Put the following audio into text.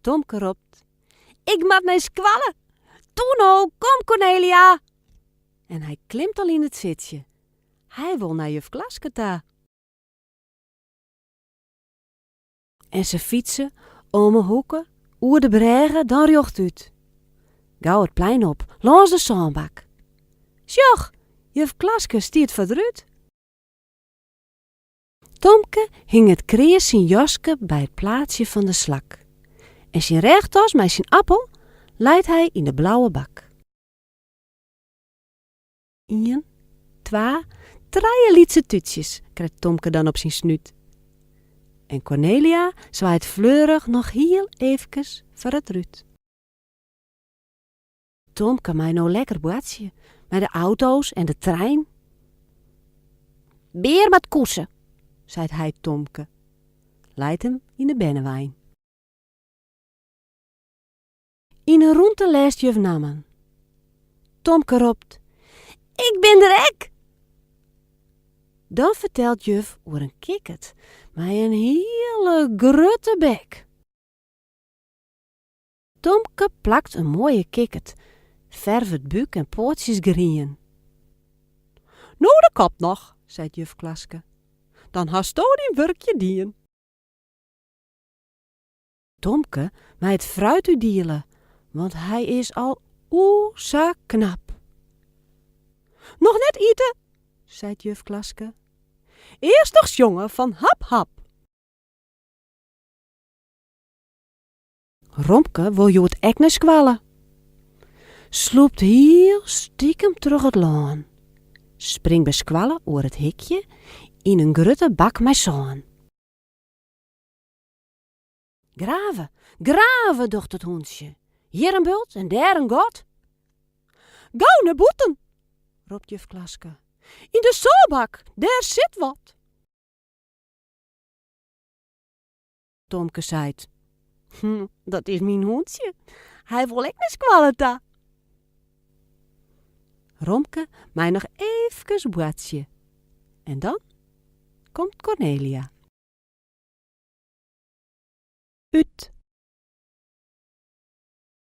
Tomke ropt, Ik moat nei skoalle! Toeno, kom Cornelia! En hy klimt al yn it sitsje. Hy wol nei juf Klaske ta. En se fytse om 'e hoeke, oer de brêge, dan rjochtút. Gau it plein op, lâns de sânbak. Sjoch, juf Klaske stiet foar it rút. Tomke hinget kreas syn jaske by it plaatsje fan de slak en syn rêchtas mei syn appel leit hy yn de blauwe bak. Ien, twa, trije lytse tútsjes krijt Tomke dan op syn snút en Cornelia swaait fleurich noch hiel eefkes foar it rút. Tomke mei no lekker boartsje mei de auto's en de trein. Bear moat koese, seit hy Tomke. Leit him yn de bennewein. Yn 'e rûnte lêst juf nammen. Tomke ropt, Ik bin der ek! Dan fertelt juf oer in kikkert mei in hiele grutte bek. Tomke plakt in moaie kikkert, fervet bûk en poatsjes grien. No de kop noch, seit juf Klaske, dan hasto dyn wurkje dien. Tomke mei it fruit útdiele, want hy is al o sa knap. Noch net ite, seit juf Klaske, earst noch sjonge fan hap hap. Romke wol hjoed ek nei skoalle. Slûpt hiel stikem troch it lân. Springt by skoalle oer it hikje yn in grutte bak mei sân. Grave, grave, docht it hûntsje, hjir in bult en dêr in gat. Gau nei bûten, ropt juf Klaske, yn de sânbak, dêr sit wat. Tomke seit. Hm, dat is myn hûntsje. Hy wol ek nei skoalle ta. Romke mei noch eefkes boartsje. En dan komt Cornelia. Ut.